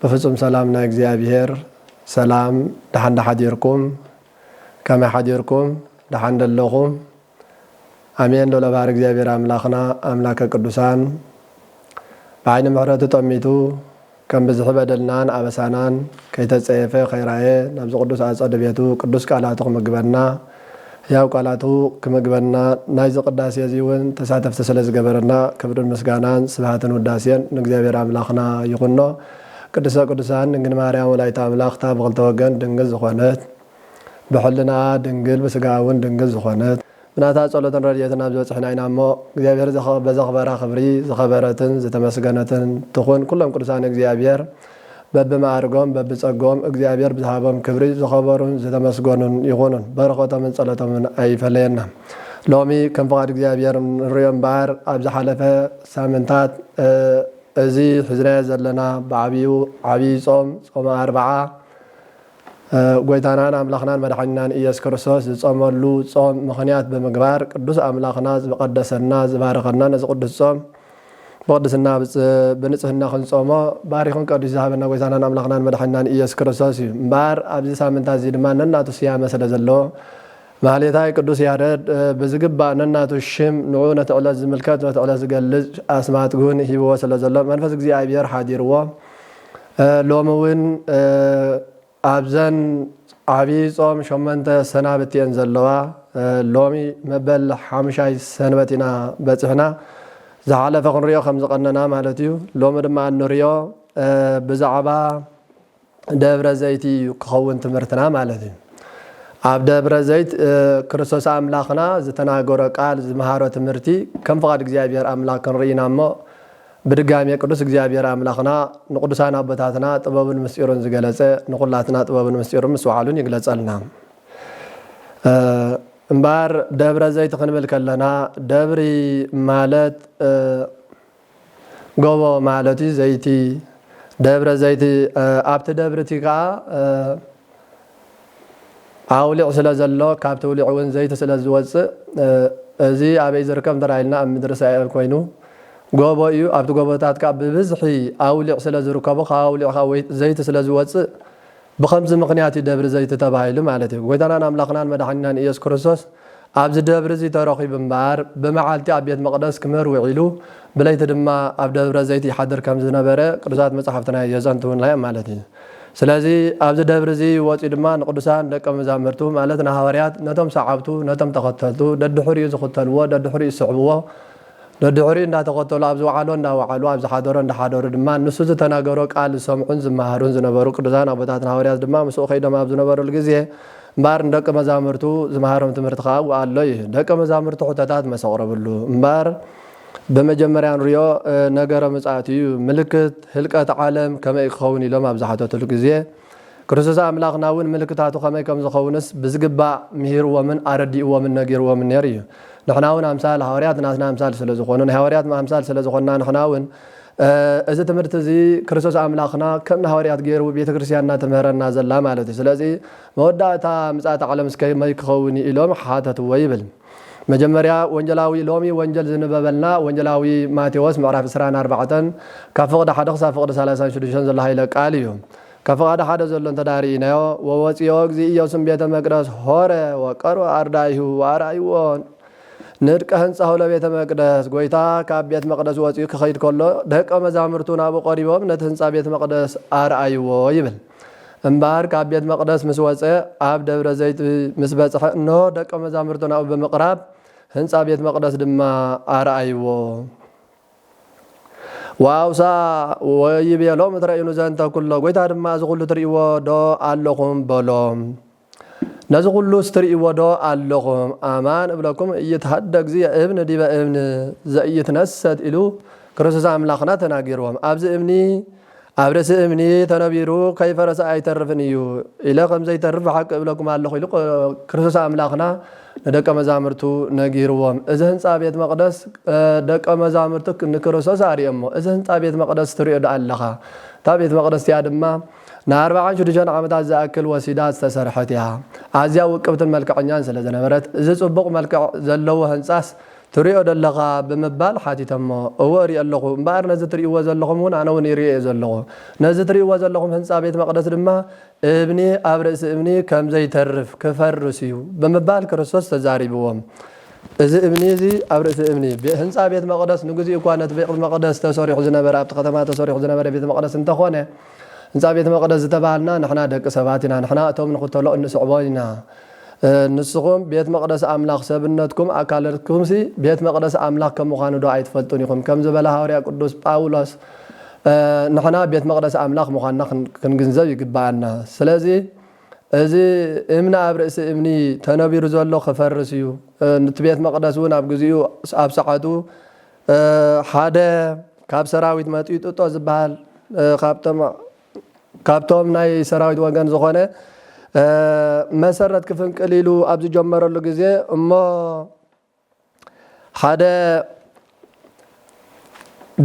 ብፍጹም ሰላም ናይ እግዚኣብሔር ሰላም ደሓን ዶ ሓዲርኩም ከመይ ሓዲርኩም ደሓን ዶ ኣለኹም ኣሜን ልዑለ ባህሪ እግዚኣብሔር ኣምላኽና ኣምላከ ቅዱሳን ብዓይኒ ምሕረቱ ጠሚቱ ከም ብዝሒ በደልናን ኣበሳናን ከይተጸየፈ ከይራየ ናብዚ ቅዱስ ኣጸደ ቤቱ ቅዱስ ቃላቱ ክምግበና ሕያው ቃላቱ ክምግበና ናይዚ ቅዳሴ እዚ እውን ተሳተፍቲ ስለ ዝገበረና ክብርን ምስጋናን ስብሃትን ውዳሴን ንእግዚኣብሔር ኣምላኽና ይኹኖ። ቅድስተ ቅዱሳን ድንግል ማርያም ወላዲተ ኣምላኽ እታ ብኽልተ ወገን ድንግል ዝኾነት ብሕልናኣ ድንግል ብስጋኣ እውን ድንግል ዝኾነት፣ ብናታ ጸሎትን ረድኤትን ኣብዚ በጺሕና ኢና እሞ እግዚኣብሔር በዘኽበራ ክብሪ ዝኸበረትን ዝተመስገነትን ትኹን ኩሎም ቅዱሳን እግዚኣብሔር በብመዓርጎም በብጸግኦም እግዚኣብሔር ብዝሃቦም ክብሪ ዝኸበሩን ዝተመስገኑን ይኹኑን በረኸቶምን ጸሎቶምን ኣይፈለየና ሎሚ ከም ፍቓድ እግዚኣብሔር ንርእዮ እምበኣር ኣብ ዝሓለፈ ሳምንታት እዚ ሒዝናዮ ዘለና ብዓቢኡ ዓቢይ ጾም ጾመ ኣርብዓ ጎይታናን ኣምላኽናን መድሓኒናን ኢየሱስ ክርስቶስ ዝጾመሉ ጾም ምኽንያት ብምግባር ቅዱስ ኣምላኽና ዝቐደሰና ዝባረኸና ነዚ ቅዱስ ጾም ብቕድስና ብንጽህና ክንጾሞ ባሪኹን ቀዲሱ ዝሃበና ጎይታናን ኣምላኽናን መድሓኒናን ኢየሱስ ክርስቶስ እዩ እምበኣር ኣብዚ ሳምንታት እዚ ድማ ነናቱ ስያመ ስለ ዘለዎ ማህሌታይ ቅዱስ ያረድ ብዝግባእ ነናቱ ሽም ንዑ ነቲ ዕለት ዝምልከት ነቲ ዕለት ዝገልጽ ኣስማት ውን ሂብዎ ስለ ዘሎ መንፈስ እግዚኣብሔር ሓዲርዎ ሎሚ ውን ኣብዘን ዓቢይ ጾም ሸሞንተ ሰናብቲ እየን ዘለዋ ሎሚ መበል ሓሙሻይ ሰንበት ኢና በጺሕና ዝሓለፈ ክንሪኦ ከም ዝቐነና ማለት እዩ ሎሚ ድማ እንሪኦ ብዛዕባ ደብረ ዘይቲ እዩ ክኸውን ትምህርትና ማለት እዩ። ኣብ ደብረ ዘይት ክርስቶስ ኣምላኽና ዝተናገሮ ቃል ዝመሃሮ ትምህርቲ ከም ፍቓድ እግዚኣብሔር ኣምላኽ ክንርኢ ኢና እሞ ብድጋሜ ቅዱስ እግዚኣብሔር ኣምላኽና ንቅዱሳን ኣቦታትና ጥበቡን ምስጢሩን ዝገለጸ ንኩላትና ጥበቡን ምስጢሩን ምስ ባዕሉን ይግለጸልና። እምበኣር ደብረ ዘይት ክንብል ከለና ደብሪ ማለት ጎቦ ማለት እዩ ዘይቲ ደብረ ዘይቲ ኣብቲ ደብሪ እቲ ከኣ ኣውሊዕ ስለ ዘሎ ካብቲ ውሊዕ እውን ዘይቲ ስለ ዝወጽእ እዚ ኣበይ ዝርከብ እንተ ኢልና ኣብ ምድሪ እስራኤል ኮይኑ ጎቦ እዩ ኣብቲ ጎቦታት ከኣ ብብዝሒ ኣውሊዕ ስለ ዝርከቡ ካብ ኣውሊዕ ከኣ ዘይቲ ስለ ዝወጽእ ብኸምዚ ምኽንያት እዩ ደብሪ ዘይቲ ተባሂሉ ማለት እዩ። ጐይታናን ኣምላኽናን መድሓኒናን ኢየሱስ ክርስቶስ ኣብዚ ደብሪ እዚ ተረኺቡ እምበኣር፣ ብመዓልቲ ኣብ ቤት መቕደስ ክምህር ውዒሉ፣ ብለይቲ ድማ ኣብ ደብረ ዘይት ይሓድር ከም ዝነበረ ቅዱሳት መጻሕፍትና የዘንትዉልና እዮም ማለት እዩ። ስለዚ ኣብዚ ደብሪ እዚ ወጺኡ ድማ ንቅዱሳን ደቀ መዛምርቱ ማለት ንሃዋርያት፣ ነቶም ሰዓብቱ፣ ነቶም ተኸተልቱ፣ ደድሕሪኡ ዝኽተልዎ፣ ደድሕሪኡ ዝስዕብዎ፣ ደድሕሪኡ እንዳተኸተሉ ኣብ ዝወዓሎ እንዳወዓሉ ኣብ ዝሓደሮ እንዳሓደሩ ድማ ንሱ ዝተናገሮ ቃል ዝሰምዑን ዝመሃሩን ዝነበሩ ቅዱሳን ኣቦታትና ሃወርያት ድማ ምስኡ ከይዶም ኣብ ዝነበርሉ ግዜ እምበኣር ንደቀ መዛምርቱ ዝመሃሮም ትምህርቲ ከኣ ኣብኡ ኣሎ እዩ ደቀ መዛምርቱ ሕቶታት መስ ኣቕረብሉ እምበኣር ብመጀመርያ ንሪኦ ነገረ ምጽኣት እዩ ምልክት ህልቀት ዓለም ከመይ እዩ ክኸውን ኢሎም ኣብ ዝሓተትሉ ግዜ ክርስቶስ ኣምላኽና እውን ምልክታቱ ከመይ ከም ዝኸውንስ ብዝግባእ ምሂርዎምን ኣረዲእዎምን ነጊርዎምን ነይሩ እዩ። ንሕና እውን ኣምሳል ሃዋርያት ናትና ኣምሳል ስለ ዝኾኑ ናይ ሃዋርያት ኣምሳል ስለ ዝኾንና ንሕና እውን እዚ ትምህርቲ እዚ ክርስቶስ ኣምላኽና ከም ንሃዋርያት ገይሩ ቤተ ክርስቲያንና ትምህረና ዘላ ማለት እዩ። ስለዚ መወዳእታ ምጽኣተ ዓለምስ ከመይ ክኸውን እዩ ኢሎም ሓተትዎ ይብል። መጀመርያ ወንጀላዊ ሎሚ ወንጀል ዝንበበልና ወንጀላዊ ማቴዎስ ምዕራፍ ዕስራን ኣርባዕተን ካብ ፍቕዲ ሓደ ክሳብ ፍቕዲ ሰላሳን ሽዱሽተን ዘሎ ሃይለ ቃል እዩ። ካብ ፍቓዲ ሓደ ዘሎ እንተድኣ ርኢናዮ ወወጽኦ እግዚእ ኢየሱም ቤተ መቅደስ ሆረ ወቀርበ ኣርዳኢሁ ወኣርኣይዎ ንድቀ ህንጻሁ ለቤተ መቅደስ ጎይታ ካብ ቤት መቅደስ ወጺኡ ክኸይድ ከሎ ደቀ መዛምርቱ ናብኡ ቀሪቦም ነቲ ህንጻ ቤት መቅደስ ኣርኣይዎ ይብል። እምበኣር ካብ ቤት መቕደስ ምስ ወጸ፣ ኣብ ደብረ ዘይት ምስ በጽሐ እንሆ፣ ደቀ መዛሙርቱ ናብኡ ብምቕራብ፣ ህንጻ ቤት መቕደስ ድማ ኣርኣይዎ። ወኣውስኣ ወይቤሎምእትረእዩኑ ዘንተ ኩሎ፣ ጐይታ ድማ እዚ ዅሉ ትርእይዎዶ ኣሎኹም? በሎም። ነዚ ኩሉስ ትርእይዎ ዶ ኣሎኹም? ኣማን እብለኩም እይትሃደግ ዝየ እብን ዲበ እብን ዘኢይትነሰት ኢሉ ክርስቶስ ኣምላኽና ተናጊርዎም። ኣዚ እምኒ ኣብ ርእሲ እምኒ ተነቢሩ ከይፈረሰ ኣይተርፍን እዩ ኢለ ከም ዘይተርፍ ብሓቂ እብለኩም ኣሎኹ ኢሉ ክርስቶስ ኣምላኽና ንደቀ መዛምርቱ ነጊርዎም። እዚ ህንጻ ቤት መቅደስ ደቀ መዛምርቱ ንክርስቶስ ኣርእዮሞ እዚ ህንጻ ቤት መቅደስ ትርእዮ ዶ ኣለኻ? እታ ቤት መቅደስ እቲኣ ድማ ንኣርባዓን ሽዱሽተን ዓመታት ዝኣክል ወሲዳ ዝተሰርሐት እያ። ኣዝያ ውቅብትን መልክዐኛን ስለ ዝነበረት፣ እዚ ጽቡቕ መልክዕ ዘለዎ ህንጻስ ትርእዮ ደለኻ? ብምባል ሓቲተሞ። እወ እርእዮ ኣለኹ፣ እምበኣር ነዚ ትርእይዎ ዘለኹም እውን ኣነ እውን ይርእዮ እየ ዘለኹ። ነዚ ትርእይዎ ዘለኹም ህንጻ ቤት መቕደስ ድማ እምኒ ኣብ ርእሲ እምኒ ከም ዘይተርፍ፣ ክፈርስ እዩ፣ ብምባል ክርስቶስ ተዛሪብዎም። እዚ እምኒ እዚ ኣብ ርእሲ እምኒ፣ ህንጻ ቤት መቕደስ ንግዚኡ እኳ ነቲ ቤቅት መቕደስ ተሰሪሑ ዝነበረ ኣብቲ ከተማ ተሰሪሑ ዝነበረ ቤተ መቕደስ እንተኾነ፣ ህንጻ ቤት መቅደስ ዝተባሃልና ንሕና ደቂ ሰባት ኢና ንሕና እቶም ንክተሎ እንስዕቦ ኢና ንስኩም ቤት መቅደስ ኣምላኽ ሰብነትኩም ኣካለትኩምሲ ቤት መቅደስ ኣምላኽ ከም ምዃኑ ዶ ኣይትፈልጡን ኢኹም ከም ዝበለ ሃወርያ ቅዱስ ጳውሎስ ንሕና ቤት መቅደስ ኣምላኽ ምዃንና ክንግንዘብ ይግባኣና ስለዚ እዚ እምኒ ኣብ ርእሲ እምኒ ተነቢሩ ዘሎ ክፈርስ እዩ እቲ ቤት መቅደስ እውን ኣብ ግዚኡ ኣብ ሰዓቱ ሓደ ካብ ሰራዊት መጺኡ ጥጦ ዝብሃል ካብቶም ናይ ሰራዊት ወገን ዝኾነ መሰረት ክፍንቅል ኢሉ ኣብ ዝጀመረሉ ግዜ እሞ ሓደ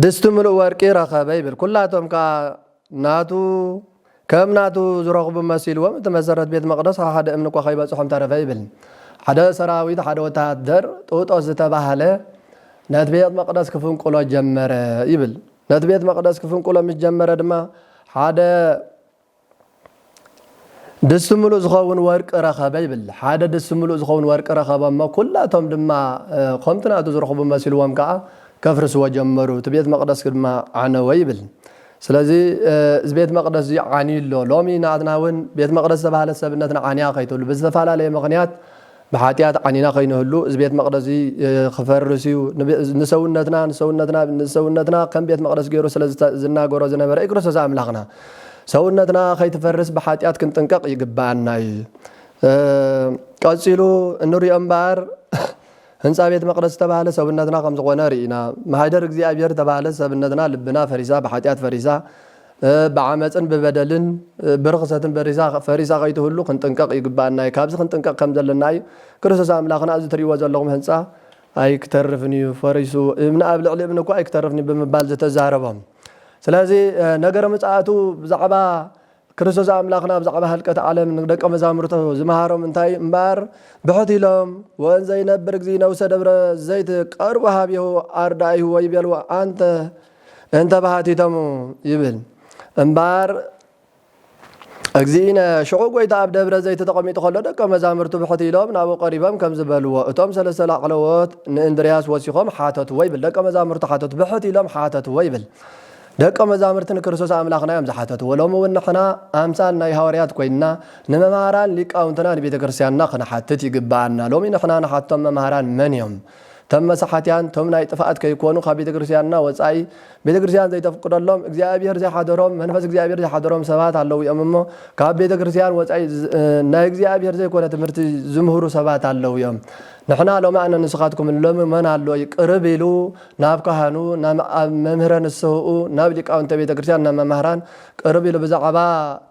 ድስቲ ምሉእ ወርቂ ረኸበ ይብል። ኩላቶም ከኣ ናቱ ከም ናቱ ዝረኽቡ መሲልዎም እቲ መሰረት ቤት መቕደስ ካብ ሓደ እምኒ እኳ ከይበጽሖም ተረፈ ይብል። ሓደ ሰራዊት ሓደ ወተሃደር ጡጦስ ዝተባህለ ነቲ ቤት መቕደስ ክፍንቁሎ ጀመረ ይብል። ነቲ ቤት መቕደስ ክፍንቁሎ ምስ ጀመረ ድማ ሓደ ድስቲ ምሉእ ዝኸውን ወርቂ ረኸበ ይብል። ሓደ ድስቲ ምሉእ ዝኸውን ወርቂ ረኸበ እሞ ኵላቶም ድማ ኸምቲ ናቱ ዝረኽቡ መሲልዎም ከኣ ከፍርስዎ ጀመሩ፣ እቲ ቤት መቕደስ ድማ ዓነወ ይብል። ስለዚ እዚ ቤት መቕደስ እዚ ዓንዩ ኣሎ። ሎሚ ናትና እውን ቤት መቕደስ ዝተባህለት ሰብነትና ዓንያ ከይትብሉ ብዝተፈላለየ ምኽንያት ብሓጢኣት ዓኒና ከይንህሉ እዚ ቤት መቕደስዚ ክፈርስ እዩ ንሰውነትና ንሰውነትና ንሰውነትና ከም ቤት መቕደስ ገይሩ ስለ ዝናገሮ ዝነበረ እዩ ክርስቶስ ኣምላኽና ሰውነትና ከይትፈርስ ብሓጢኣት ክንጥንቀቕ ይግብኣና እዩ ቀጺሉ እንሪኦ እምበኣር ህንጻ ቤት መቕደስ ዝተባህለ ሰብነትና ከም ዝኾነ ርኢና ማህደር እግዚኣብሔር ዝተባህለ ሰብነትና ልብና ፈሪሳ ብሓጢኣት ፈሪሳ ብዓመጽን ብበደልን ብርኽሰትን ፈሪሳ ከይትህሉ ክንጥንቀቕ ይግብኣና እዩ። ካብዚ ክንጥንቀቕ ከም ዘለና እዩ። ክርስቶስ ኣምላኽና እዚ ትርእይዎ ዘለኹም ህንጻ ኣይክተርፍን እዩ ፈሪሱ፣ እምኒ ኣብ ልዕሊ እምኒ እኳ ኣይክተርፍን እዩ ብምባል ዝተዛረቦም። ስለዚ ነገረ ምጽኣቱ ብዛዕባ ክርስቶስ ኣምላኽና ብዛዕባ ህልቀት ዓለም ንደቀ መዛሙርቱ ዝመሃሮም እንታይ እዩ እምበኣር ብሕት ኢሎም ወእንዘ ይነብር እግዚእነ ውስተ ደብረ ዘይት ቀርቡ ኀቤሁ ኣርዳኢሁ ወይቤልዎ ኣንተ እንተ ባሕቲቶሙ ይብል እምበኣር እግዚእነ። ሽዑ ጐይታ ኣብ ደብረ ዘይቲ ተቐሚጡ ኸሎ ደቀ መዛሙርቱ ብሕት ኢሎም ናብኡ ቀሪቦም ከምዚ በልዎ፣ እቶም ሠለስተ ላዕለዎት ንእንድርያስ ወሲኾም ሓተትዎ ይብል ደቀ መዛሙርቱ ሓተቱ ብሕት ኢሎም ሓተትዎ ይብል ደቀ መዛሙርቲ ንክርስቶስ ኣምላኽና እዮም ዝሓተትዎ። ሎሚውን ንሕና ኣምሳል ናይ ሃዋርያት ኮይንና ንመምሃራን ሊቃውንትና ንቤተ ክርስቲያንና ክንሓትት ይግብኣና። ሎሚ ንሕና ንሓቶም መምሃራን መን እዮም? እቶም መሳሓትያን እቶም ናይ ጥፍኣት ከይኮኑ ካብ ቤተ ክርስትያንና ወጻኢ ቤተ ክርስትያን ዘይተፍቅደሎም እግዚኣብሔር ዘይሓደሮም መንፈስ እግዚኣብሔር ዘይሓደሮም ሰባት ኣለዉ እዮም እሞ ካብ ቤተ ክርስትያን ወጻኢ ናይ እግዚኣብሔር ዘይኮነ ትምህርቲ ዝምህሩ ሰባት ኣለዉ እዮም ንሕና ሎሚ ኣነ ንስኻትኩም ሎሚ መን ኣሎ ቅርብ ኢሉ ናብ ካህኑ ናብ ኣብ መምህረ ንስህኡ ናብ ሊቃውንተ ቤተ ክርስትያን ናብ መማህራን ቅርብ ኢሉ ብዛዕባ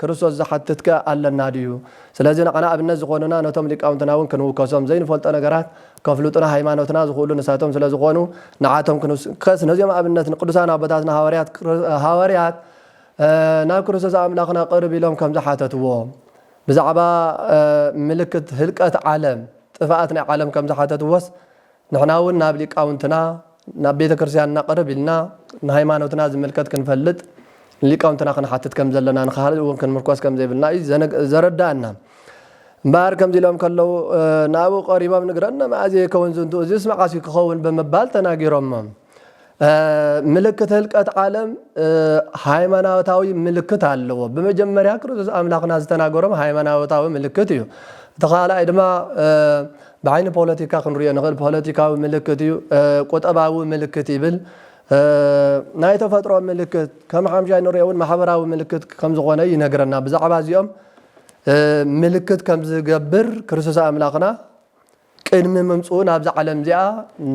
ክርስቶስ ዝሓትትከ ኣለና ድዩ ስለዚ ንዓና ኣብነት ዝኾኑና ነቶም ሊቃውንትና እውን ክንውከሶም ዘይንፈልጦ ነገራት ከፍሉጡና ሃይማኖትና ዝኽእሉ ንሳቶም ስለ ዝኾኑ ንዓቶም ክንውስከስ ነዚኦም ኣብነት ንቅዱሳን ኣቦታትና ሃዋርያት ሃዋርያት ናብ ክርስቶስ ኣምላኽና ቅርብ ኢሎም ከም ዝሓተትዎ ብዛዕባ ምልክት ህልቀት ዓለም ጥፍኣት ናይ ዓለም ከም ዝሓተትዎስ ንሕና እውን ናብ ሊቃውንትና ናብ ቤተክርስቲያንና ቅርብ ኢልና ንሃይማኖትና ዝምልከት ክንፈልጥ ንሊቃውንትና ክንሓትት ከም ዘለና ንካህልት እውን ክንምርኮስ ከም ዘይብልና እዩ ዘረዳኣና እምበኣር ከምዚ ኢሎም ከለዉ ንኣብኡ ቀሪቦም ንግረነ መኣዜ ይከውን ዝንቱ እዚስ መዓስ እዩ ክኸውን ብምባል ተናጊሮሞም ምልክት ህልቀት ዓለም ሃይማኖታዊ ምልክት ኣለዎ ብመጀመርያ ክርስቶስ ኣምላኽና ዝተናገሮም ሃይማኖታዊ ምልክት እዩ እቲ ካልኣይ ድማ ብዓይኒ ፖለቲካ ክንሪኦ ንኽእል ፖለቲካዊ ምልክት እዩ ቁጠባዊ ምልክት ይብል ናይ ተፈጥሮ ምልክት ከም ሓምሻይ ንሪኦ እውን ማሕበራዊ ምልክት ከም ዝኾነ ይነግረና ብዛዕባ እዚኦም ምልክት ከም ዝገብር ክርስቶስ ኣምላኽና ቅድሚ ምምፅኡ ናብዛ ዓለም እዚኣ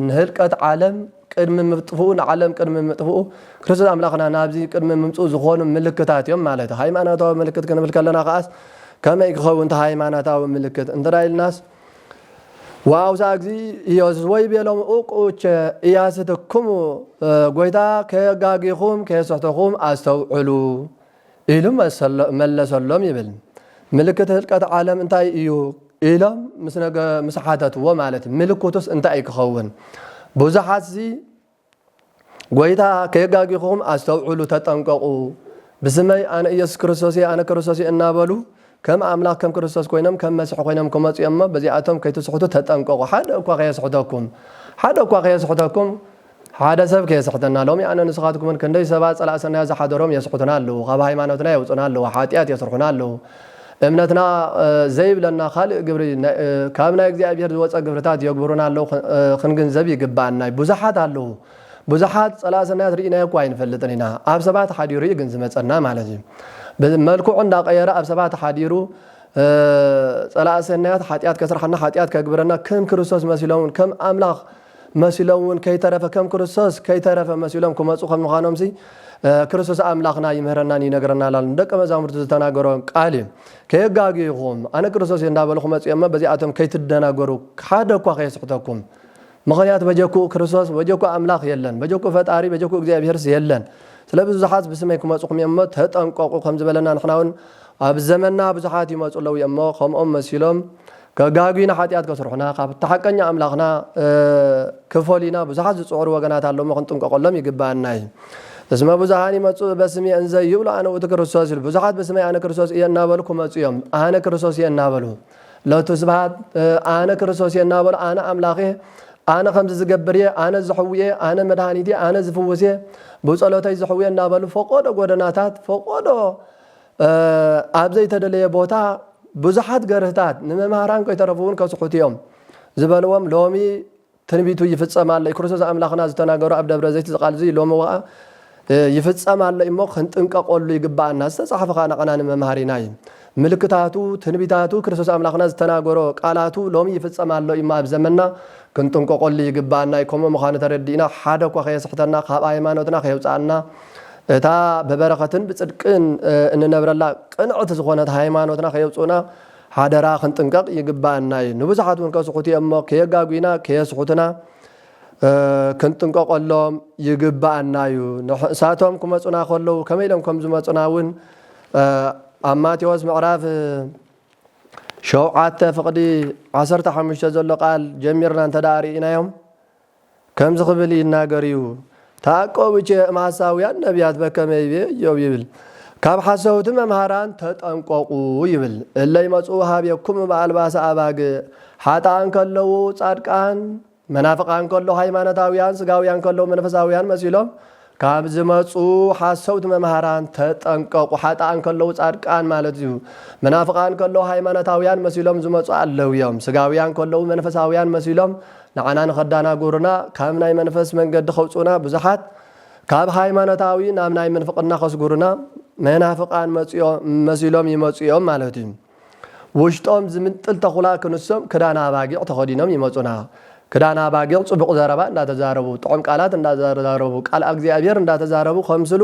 ንህልቀት ዓለም ቅድሚ ምጥፍኡ ንዓለም ቅድሚ ምጥፍኡ ክርስቶስ ኣምላኽና ናብዚ ቅድሚ ምምጽኡ ዝኾኑ ምልክታት እዮም ማለት እዩ። ሃይማኖታዊ ምልክት ክንብል ከለና ከኣስ ከመይ ክኸውን እቲ ሃይማኖታዊ ምልክት እንተ ኢልናስ ወኣውስኣ እግዚእ ኢየሱስ ወይቤሎም ኡቅኡቸ ኢያስትክሙ ጎይታ ከየጋጊኹም ከየስሕተኹም ኣስተውዕሉ ኢሉ መለሰሎም ይብል። ምልክት ህልቀት ዓለም እንታይ እዩ? ኢሎም ምስ ሓተትዎ ማለት ምልክቱስ እንታይ ክኸውን? ብዙሓትሲ ጐይታ ከየጋግኹም ኣስተውዕሉ ተጠንቀቑ፣ ብስመይ ኣነ ኢየሱስ ክርስቶስ እየ፣ ኣነ ክርስቶስ እየ እናበሉ ከም ኣምላኽ ከም ክርስቶስ ኮይኖም ከም መሲሕ ኮይኖም ክመጹ እዮም እሞ በዚኣቶም ከይትስሕቱ ተጠንቀቑ ሓደ እኳ ከየስሕተኩም ሓደ እኳ ከየስሕተኩም ሓደ ሰብ ከየስሕተና ሎሚ ኣነ ንስኻትኩም እውን ክንደይ ሰባት ጸላእ ሰናያት ዝሓደሮም የስሕቱና ኣለዉ ካብ ሃይማኖትና የውጹና ኣለዉ ሓጢኣት የስርሑና ኣለዉ እምነትና ዘይብለና ካልእ ግብሪ ካብ ናይ እግዚኣብሔር ዝወጸ ግብርታት የግብሩና ኣለዉ ክንግንዘብ ይግብኣና ብዙሓት ኣለዉ ብዙሓት ጸላኢ ሰናያት ርኢናዮ እኳ ኣይንፈልጥን ኢና። ኣብ ሰባት ሓዲሩ እዩ ግን ዝመጸና ማለት እዩ። መልክዑ እንዳቐየረ ኣብ ሰባት ሓዲሩ ጸላኢ ሰናያት ሓጢኣት ከስርሓና ሓጢኣት ከግብረና ከም ክርስቶስ መሲሎም እውን ከም ኣምላኽ መሲሎም እውን ከይተረፈ ከም ክርስቶስ ከይተረፈ መሲሎም ክመፁ ከም ምዃኖምሲ ክርስቶስ ኣምላኽና ይምህረናን ይነግረናል ኣሎ ንደቀ መዛሙርቱ ዝተናገሮ ቃል እዩ ከየጋግዩኹም ኣነ ክርስቶስ እዩ እንዳበልኹ መፅኦሞ በዚኣቶም ከይትደናገሩ ሓደ እኳ ከየስሕተኩም ምኽንያቱ በጀክኡ ክርስቶስ በጀክኡ ኣምላኽ የለን፣ በጀክኡ ፈጣሪ በጀክኡ እግዚኣብሔርስ የለን። ስለ ብዙሓት ብስመይ ክመጹኹም እዮም እሞ ተጠንቀቁ ከም ዝበለና ንሕናውን ኣብ ዘመንና ብዙሓት ይመጹ ኣለው እዮም እሞ ከምኦም መሲሎም ከጋግዩና ሓጢኣት ከስርሑና ካብቲ ሓቀኛ ኣምላኽና ክፈሉዩና ብዙሓት ዝጽዕሩ ወገናት ኣለው እሞ ክንጥንቀቀሎም ይግብኣና እዩ። እስመ ብዙሃን ይመጹ በስሜ እንዘ ይብሉ ኣነ ውእቱ ክርስቶስ ይብሉ ብዙሓት ብስመይ ኣነ ክርስቶስ እየ እናበሉ ክመጹ እዮም ኣነ ክርስቶስ እየ እናበሉ ሎቱ ስብሃት ኣነ ክርስቶስ እየ እናበሉ ኣነ ኣምላኽ እየ ኣነ ከምዚ ዝገብር እየ ኣነ ዝሕዊ እየ ኣነ መድሃኒት እየ ኣነ ዝፍውስ እየ ብጸሎተይ ዝሕዊ እየ እናበሉ ፈቆዶ ጎደናታት ፈቆዶ ኣብ ዘይተደለየ ቦታ ብዙሓት ገርህታት ንመምህራን ከይተረፉ እውን ከስሑቱ እዮም ዝበልዎም ሎሚ ትንቢቱ ይፍጸም ኣሎ እዩ ክርስቶስ ኣምላኽና ዝተናገሮ ኣብ ደብረ ዘይት እዚ ቃል እዚ ሎሚ ወኣ ይፍጸም ኣሎ እዩ እሞ ክንጥንቀቆሉ ይግብኣና ዝተጻሕፈ ከኣ ናዓና ንመምሃሪና እዩ ምልክታቱ ትንቢታቱ ክርስቶስ ኣምላኽና ዝተናገሮ ቃላቱ ሎሚ ይፍጸም ኣሎ እዩ እሞ ኣብ ዘመንና ክንጥንቀቆሉ ይግብኣና እዩ ከምኡ ምዃኑ ተረዲእና ሓደ እኳ ከየስሕተና ካብ ኣይማኖትና ከየውጽኣና እታ ብበረኸትን ብጽድቅን እንነብረላ ቅንዕቲ ዝኾነት ሃይማኖትና ከየውጽኡና ሓደራ ክንጥንቀቕ ይግበኣና እዩ። ንብዙሓት እውን ከስሕቱ እዮም እሞ ከየጋጉይና ከየስሕቱና ክንጥንቀቐሎም ይግበኣና እዩ። ንሳቶም ክመፁና ከለዉ ከመይ ኢሎም ከም ዝመፁና እውን ኣብ ማቴዎስ ምዕራፍ ሸውዓተ ፍቕዲ ዓሰርተ ሓሙሽተ ዘሎ ቃል ጀሚርና እንተደኣ ርኢናዮም ከምዚ ክብል ይናገር እዩ፣ ተዓቀቡ ቼእም ሓሳውያን ነብያት በከመ ይቤ እዮብ ይብል፣ ካብ ሓሰውቲ መምሃራን ተጠንቀቁ ይብል፣ እለ ይመጽኡ ኀቤኩሙ በኣልባሰ ኣባግዕ፣ ሓጥኣን ከለዉ ጻድቃን፣ መናፍቃን ከለዉ ሃይማኖታውያን፣ ስጋውያን ከለዉ መንፈሳውያን መሲሎም ካብ ዝመጹ ሓሰውቲ መምሃራን ተጠንቀቁ ሓጥኣን ከለዉ ጻድቃን ማለት እዩ መናፍቃን ከለዉ ሃይማኖታውያን መሲሎም ዝመጹ ኣለዉ እዮም ስጋውያን ከለዉ መንፈሳውያን መሲሎም ንዓና ንኸዳናጉሩና ካብ ናይ መንፈስ መንገዲ ከውጹና ብዙሓት ካብ ሃይማኖታዊ ናብ ናይ ምንፍቅና ከስጉሩና መናፍቃን መጺኦ መሲሎም ይመጹ እዮም ማለት እዩ ውሽጦም ዝምንጥል ተኹላ ክንሶም ክዳን ኣባጊዕ ተኸዲኖም ይመጹና። ክዳን ኣባጊዕ ጽቡቕ ዘረባ እንዳተዛረቡ፣ ጥዑም ቃላት እንዳተዛረቡ፣ ቃል ኣግዚኣብሄር እንዳተዛረቡ ከምስሉ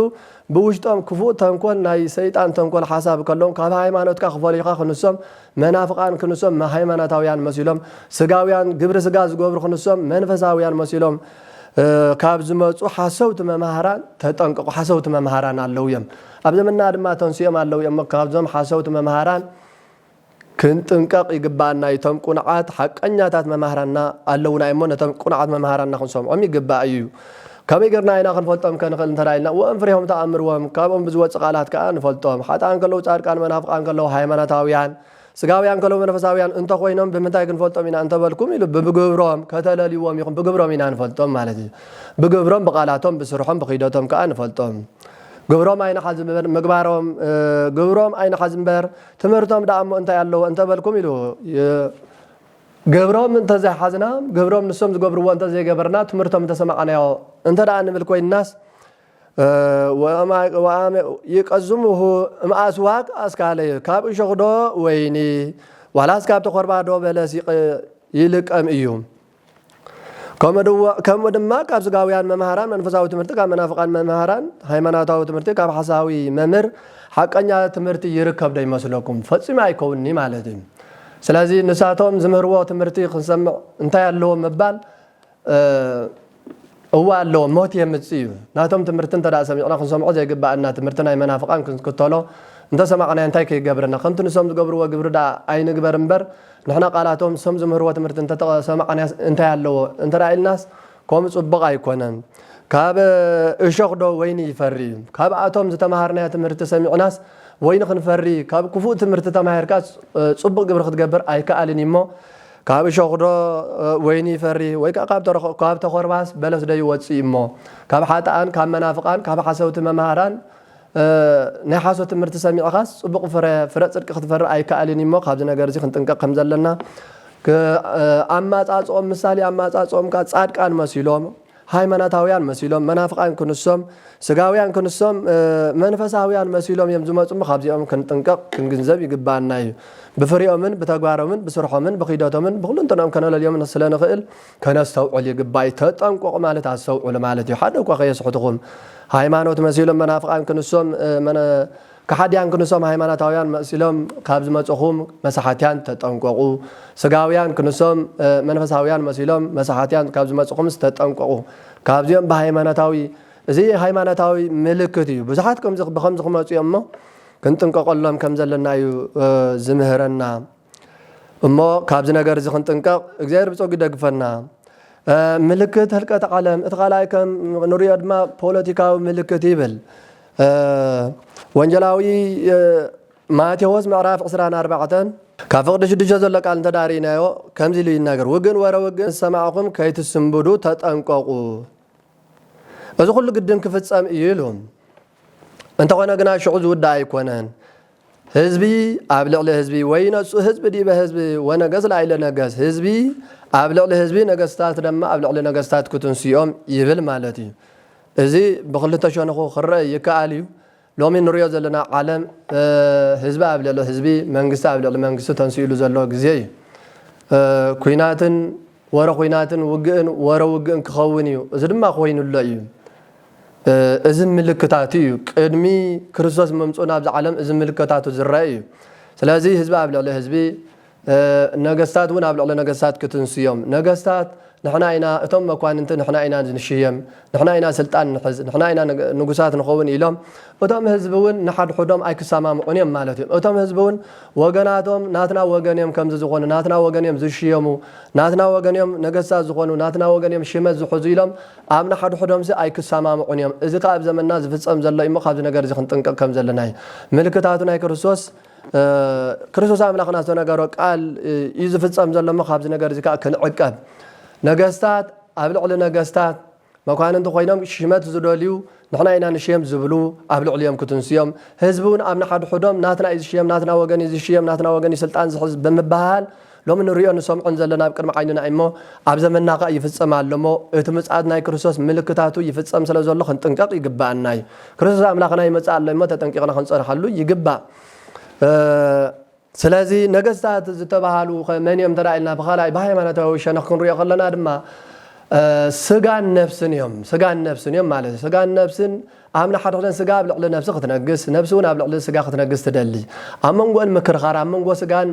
ብውሽጦም ክፉእ ተንኮል ናይ ሰይጣን ተንኮል ሓሳብ ከለዎም ካብ ሃይማኖትካ ክፈልዩኻ ክንሶም መናፍቃን ክንሶም ሃይማኖታውያን መሲሎም ስጋውያን ግብሪ ስጋ ዝገብሩ ክንሶም መንፈሳውያን መሲሎም ካብ ዝመጹ ሓሰውቲ መማህራን ተጠንቀቑ ሓሰውቲ መማህራን ኣለዉ እዮም ኣብ ዘመንና ድማ ተንሲኦም ኣለዉ እዮም እሞ ካብዞም ሓሰውቲ መምሃራን ክንጥንቀቕ ይግብኣና እዩ። እቶም ቁኑዓት ሓቀኛታት መማህራንና ኣለዉና እዮም እሞ ነቶም ቁኑዓት መምሃራንና ክንሰምዖም ይግባእ እዩ። ከመይ ጌርና ኢና ክንፈልጦም ከንኽእል እንተ ኢልና ወእም ፍሬሆም ተኣምርዎም ካብኦም ብዝወጽእ ቃላት ከኣ ንፈልጦም። ሓጥኣን ከለዉ ጻድቃን መናፍቃን ከለዉ ሃይማኖታውያን። ስጋውያን ከለዉ መንፈሳውያን እንተ ዀይኖም ብምንታይ ክንፈልጦም ኢና እንተ በልኩም ኢሉ ብግብሮም ከተለልይዎም ኢኹም ብግብሮም ኢና ንፈልጦም ማለት እዩ ብግብሮም ብቓላቶም ብስርሖም ብኺደቶም ከኣ ንፈልጦም ግብሮም ኣይንሓዝ እምበር ምግባሮም ግብሮም ኣይንሓዝ እምበር ትምህርቶም ደኣ እሞ እንታይ ኣለዎ እንተ በልኩም ኢሉ ግብሮም እንተ ዘይሓዝና ግብሮም ንሶም ዝገብርዎ እንተ ዘይገበርና ትምህርቶም እንተ ሰማዕናዮ እንተ ደኣ ንብል ኰይንናስ ይቀዝሙሁ እምኣስዋክ ኣስካለ ካብ እሾኽዶ ወይኒ ዋላስ ካብ ተኾርባዶ በለስ ይልቀም እዩ። ከምኡ ድማ ካብ ስጋውያን መምሃራን መንፈሳዊ ትምህርቲ ካብ መናፍቃን መምሃራን ሃይማኖታዊ ትምህርቲ ካብ ሓሳዊ መምህር ሓቀኛ ትምህርቲ ይርከብ ዶ ይመስለኩም? ፈጺሙ ኣይከውንኒ ማለት እዩ። ስለዚ ንሳቶም ዝምህርዎ ትምህርቲ ክንሰምዕ እንታይ ኣለዎ ምባል እወ ኣሎ ሞት የምጽእ እዩ ናቶም ትምህርቲ እንተ ሰሚዕና ክንሰምዖ ዘይግበኣና ትምህርቲ ናይ መናፍቃን ክንክተሎ እንተ ሰማዕናዮ እንታይ ከይገብረና ከምቲ ንሶም ዝገብርዎ ግብሪ ደኣ ኣይንግበር እምበር ንሕና ቃላቶም ሶም ዝምህርዎ ትምህርቲ እንተ ሰማዕናዮስ እንታይ ኣለዎ እንተ ኢልናስ ከምኡ ጽቡቅ ኣይኮነን ካብ እሾክ ዶ ወይኒ ይፈሪ እዩ ካብኣቶም ዝተማሃርናዮ ትምህርቲ ሰሚዕናስ ወይኒ ክንፈሪ ካብ ክፉእ ትምህርቲ ተማሂርካስ ጽቡቅ ግብሪ ክትገብር ኣይከኣልን እዩ እሞ ካብ እሾኽዶ ወይኒ ይፈሪ? ወይ ከኣ ካብ ተዀርባስ በለስዶ ይወጽእ እዩ'ሞ? ካብ ሓጥኣን ካብ መናፍቓን ካብ ሓሰውቲ መማህራን ናይ ሓሶት ትምህርቲ ሰሚዕካስ ጽቡቕ ፍረ፣ ፍረ ጽድቂ ክትፈሪ ኣይከኣልን እዩ'ሞ ካብዚ ነገር'ዚ ክንጥንቀቕ ከም ዘለና ኣማጻጽኦም ምሳሌ ኣማጻጽኦም ከኣ ጻድቃን መሲሎም ሃይማኖታውያን መሲሎም መናፍቃን ክንሶም ስጋውያን ክንሶም መንፈሳውያን መሲሎም እዮም ዝመጹ እሞ ካብዚኦም ክንጥንቀቅ ክንግንዘብ ይግባኣና እዩ ብፍሪኦምን ብተግባሮምን ብስርሖምን ብኺደቶምን ብኹሉንትንኦም ከነለልዮም ስለ ንኽእል ከነስተውዕል ይግባእ እዩ ተጠንቆቁ ማለት ኣስተውዕሉ ማለት እዩ ሓደ እኳ ከየስሕትኹም ሃይማኖት መሲሎም መናፍቃን ክንሶም ከሓድያን ክንሶም ሃይማኖታውያን መሲሎም ካብ ዝመጹኹም መሳሓትያን ተጠንቀቑ ስጋውያን ክንሶም መንፈሳውያን መሲሎም መሳሓትያን ካብ ዝመጹኹምስ ተጠንቀቑ ካብዚኦም ብሃይማኖታዊ እዚ ሃይማኖታዊ ምልክት እዩ ብዙሓት ብኸምዚ ክመጹ እዮም እሞ ክንጥንቀቐሎም ከምዘለና እዩ ዝምህረና እሞ ካብዚ ነገር እዚ ክንጥንቀቕ እግዚኣብሔር ብጸጉ ይደግፈና። ምልክት ህልቀት ዓለም እቲ ካልኣይ ከም ንሪኦ ድማ ፖለቲካዊ ምልክት ይብል ወንጀላዊ ማቴዎስ ምዕራፍ 24 ካብ ፍቕዲ ሽዱሽተ ዘሎ ቃል እንተዳሪናዮ ከምዚ ኢሉ ይናገር ውግን ወረ ውግን ዝሰማዕኹም ከይትስንብዱ ተጠንቀቑ እዚ ኩሉ ግድን ክፍጸም እዩ ኢሉ እንተኾነ ግና ሽዑ ዝውዳእ ኣይኮነን። ህዝቢ ኣብ ልዕሊ ህዝቢ ወይነሱ ህዝቢ ዲበ ህዝቢ ወነገስ ላይለ ነገስ ህዝቢ ኣብ ልዕሊ ህዝቢ ነገስታት ደማ ኣብ ልዕሊ ነገስታት ክትንስኦም ይብል ማለት እዩ። እዚ ብክልተ ሸንኹ ክረእ ይከኣል እዩ። ሎሚ ንሪኦ ዘለና ዓለም ህዝቢ ኣብ ልዕሊ ህዝቢ መንግስቲ ኣብ ልዕሊ መንግስቲ ተንሲእሉ ዘሎ ግዜ እዩ። ኩናትን ወረ ኩናትን ውግእን ወረ ውግእን ክኸውን እዩ። እዚ ድማ ኮይኑሎ እዩ። እዚ ምልክታቱ እዩ። ቅድሚ ክርስቶስ ምምጽኡን ኣብዚ ዓለም እዚ ምልክታቱ ዝረኣ እዩ። ስለዚ ህዝቢ ኣብ ልዕሊ ህዝቢ፣ ነገስታት እውን ኣብ ልዕሊ ነገስታት ክትንሱ እዮም። ነገስታት ንሕና ኢና፣ እቶም መኳንንቲ ንሕና ኢና ንሽየም፣ ንሕና ኢና ስልጣን ንሕዝ፣ ንሕና ኢና ንጉሳት ንኸውን ኢሎም። እቶም ህዝቢ እውን ንሓድሕዶም ኣይክሰማምዑን እዮም ማለት እዩ። እቶም ህዝቢ እውን ወገናቶም ናትና ወገን እዮም ከምዚ ዝኾኑ፣ ናትና ወገን እዮም ዝሽየሙ፣ ናትና ወገን እዮም ነገስታት ዝኾኑ፣ ናትና ወገን እዮም ሽመት ዝሕዙ ኢሎም ኣብ ንሓድሕዶምሲ ኣይክሰማምዑን እዮም፣ እዚ ከኣ ኣብ ዘመንና ዝፍጸም ዘሎ እዩሞ ካብዚ ነገርዚ ክንጥንቀቕ ከም ዘለና እዩ። ምልክታቱ ናይ ክርስቶስ ክርስቶስ ኣምላኽና ዝተነገሮ ቃል እዩ ዝፍጸም ዘሎ እሞ ካብዚ ነገርዚ ከኣ ክንዕቀብ። ነገስታት ኣብ ልዕሊ ነገስታት መኳንንቲ ኮይኖም ሽመት ዝደልዩ ንሕና ኢና ንሽየም ዝብሉ ኣብ ልዕሊኦም ክትንሱ እዮም። ህዝቢ እውን ኣብ ንሓድሕዶም ናትና እዩ ዝሽየም፣ ናትና ወገን እዩ ዝሽየም፣ ናትና ወገን እዩ ስልጣን ዝሕዝ ብምብህሃል፣ ሎሚ ንርእዮን ንሰምዖን ዘሎና ኣብ ቅድሚ ዓይንና እዩሞ፣ ኣብ ዘመንና ከኣ ይፍጸም ኣሎሞ፣ እቲ ምጽኣት ናይ ክርስቶስ ምልክታቱ ይፍጸም ስለ ዘሎ ክንጥንቀቕ ይግብኣና እዩ። ክርስቶስ ኣምላኽና ይመጽእ ኣሎ እዩሞ ተጠንቂቕና ክንጸንሓሉ ይግባእ። ስለዚ ነገስታት ዝተባህሉኸ መን እዮም እንተ ኢልና ብኻልኣይ ብሃይማኖታዊ ሸነኽ ክንርእዮ ከለና ድማ ስጋን ነፍስን እዮም። ስጋን ነፍስን እዮም ማለት እዩ። ስጋን ነፍስን ኣብ ንሓድሕደን ስጋ ኣብ ልዕሊ ነብሲ ክትነግስ፣ ነብሲውን ኣብ ልዕሊ ስጋ ክትነግስ ትደሊ። ኣብ መንጎእን ምክርኻር፣ ኣብ መንጎ ስጋን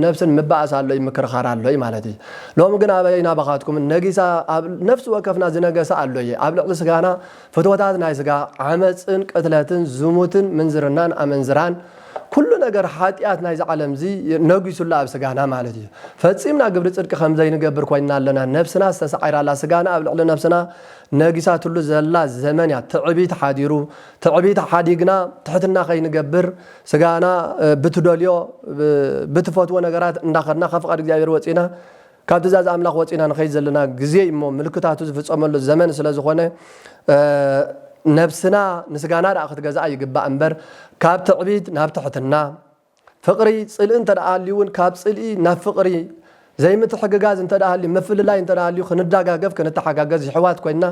ነብስን ምባእስ ኣሎ እዩ፣ ምክርኻር ኣሎ እዩ ማለት እዩ። ሎሚ ግን ኣበይ ናባኻትኩም ነጊሳ ኣብ ነፍሲ ወከፍና ዝነገሰ ኣሎ እየ። ኣብ ልዕሊ ስጋና ፍትወታት ናይ ስጋ፣ ዓመጽን ቅትለትን ዝሙትን ምንዝርናን ኣመንዝራን ኩሉ ነገር ሓጢኣት ናይዚ ዓለምዚ ነጊሱ ኣሎ ኣብ ስጋና ማለት እዩ። ፈጺምና ግብሪ ጽድቂ ከምዘይንገብር ኮይንና ኣለና፣ ነብስና ዝተሳዒራ ኣላ፣ ስጋና ኣብ ልዕሊ ነብስና ነጊሳትሉ ዘላ ዘመን እያ ትዕቢት ሓዲሩ ትዕቢት ሓዲግና ትሕትና ከይንገብር ስጋና ብትደልዮ ብትፈትዎ ነገራት እንዳኸድና ካብ ፍቃድ እግዚኣብሔር ወፂእና ካብ ትእዛዝ ኣምላኽ ወፂእና ንኸይድ ዘለና ግዜ እዩ እሞ ምልክታቱ ዝፍፀመሉ ዘመን ስለ ዝኾነ ነብስና ንስጋና ደኣ ክትገዝኣ ይግባእ እምበር ካብ ትዕቢት ናብ ትሕትና ፍቕሪ፣ ጽልኢ እንተ ደኣ ሃልዩ'ውን ካብ ጽልኢ ናብ ፍቕሪ፣ ዘይምትሕግጋዝ እንተ ደኣ ሃልዩ፣ ምፍልላይ እንተ ደኣ ሃልዩ ክንዳጋገፍ ክንተሓጋገዝ የሕዋት ኮይንና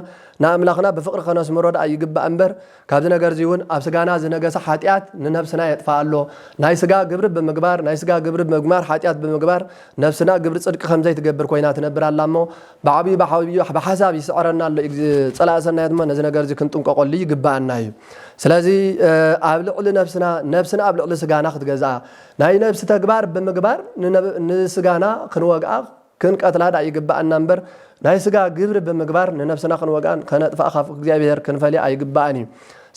ንኣምላኽና ብፍቕሪ ከነስምሮ ደኣ ይግባእ እምበር ካብዚ ነገር'ዚውን ኣብ ስጋና ዝነገሰ ሓጢኣት ንነብስና የጥፍኣ ኣሎ። ናይ ስጋ ግብሪ ብምግባር ናይ ስጋ ግብሪ ብምግባር ሓጢኣት ብምግባር ነብስና ግብሪ ጽድቂ ከም ዘይትገብር ኮይና ትነብር ኣላ እሞ ብዓብዩ ብዓብዩ ብሓሳብ ይስዕረና ኣሎ እዩ ፀላኢ ሰናያት እሞ ነዚ ነገር እዚ ክንጥንቀቀሉ ይግበኣና እዩ ስለዚ ኣብ ልዕሊ ነብስና ነብስና ኣብ ልዕሊ ስጋና ክትገዝኣ ናይ ነብሲ ተግባር ብምግባር ንስጋና ክንወግኣ ክንቀትላ ድኣ ይግበኣና እምበር ናይ ስጋ ግብሪ ብምግባር ንነብስና ክንወግኣን ከነጥፍኣ ካብ እግዚኣብሄር ክንፈልያ ኣይግበኣን እዩ